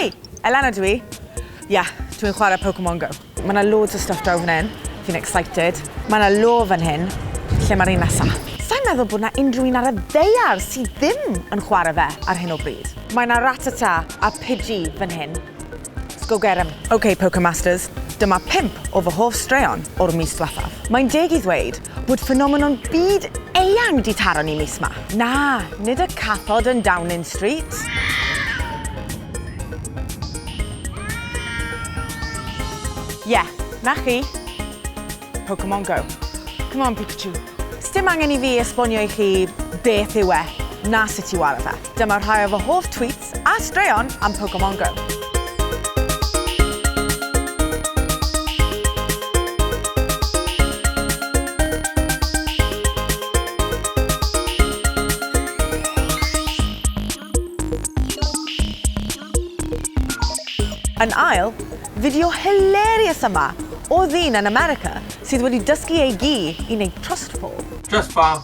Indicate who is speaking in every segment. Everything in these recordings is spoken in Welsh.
Speaker 1: Hei, Elena dwi. Ie, yeah, dwi'n chwarae Pokemon Go. Mae yna loads o stuff draw fan hyn. Fi'n excited. Mae yna lo fan hyn. Lle mae'r un nesaf? Sa'n meddwl bod yna unrhyw un ar y ddeiar sydd ddim yn chwarae fe ar hyn o bryd. Mae yna Ratata a Pidgey fan hyn. Let's go get 'em. Ok Pokemasters, dyma pump o fy hoff straeon o'r mis dwethaf. Mae'n deg i ddweud bod ffenomenon byd eang 'di taro ni mis 'ma. Na, nid y cathod yn Downing Street. Ie, 'na chi. Pokemon Go. Come on Pikachu. Sdim angen i fi esbonio i chi beth yw e, na sut i ware fe. Dyma rhai o fy hoff tweets Pets a straeon am Pokemon Go. Yn ail, fideo hilarious yma o ddyn yn America sydd wedi dysgu ei gi i wneud trust fall. Trust fall.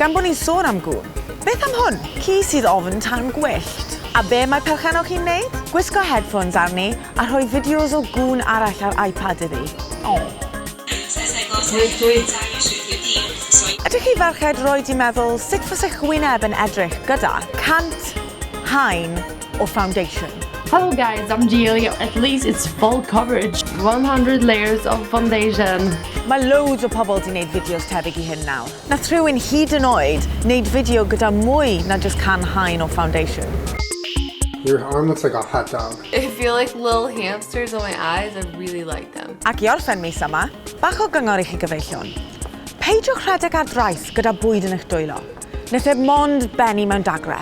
Speaker 1: Gan bod ni'n sôn am gŵn, beth am hwn? Ci sydd ofn tân gwyllt. A be mae perchennog chi'n wneud? Gwisgo headphones arni a rhoi fideos o gŵn arall ar iPad iddi. Ydych chi ferched roed i meddwl sut fasech wyneb yn edrych gyda cant haen or foundation. Hello guys, I'm
Speaker 2: Gilly. At least it's full coverage. 100 layers of foundation. Mae loads
Speaker 1: o pobl di wneud fideos tebyg i hyn nawr. Na rhywun hyd yn oed wneud fideo gyda mwy na just can haen o foundation. Your
Speaker 3: arm looks like a hot dog. I feel like little
Speaker 4: hamsters on my eyes. I really like them. Ac i orffen mis yma,
Speaker 1: bach o gyngor i chi gyfeillion. Peidiwch rhedeg ar drais gyda bwyd yn eich dwylo. nes heb mond ben i mewn dagre.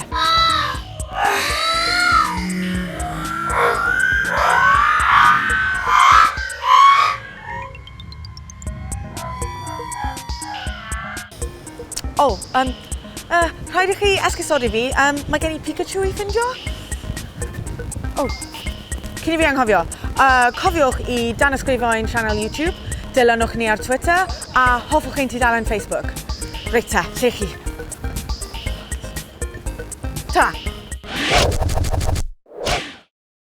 Speaker 1: O, um, uh, rhaid i chi esgusodi fi, um, mae gen i Pikachu i ffindio. O, cyn i fi anghofio, uh, cofiwch i dan ysgrifo'n sianel YouTube, dilynwch ni ar Twitter, A hoffwch chi'n tudalen Facebook? Reit ta, lle chi? Ta!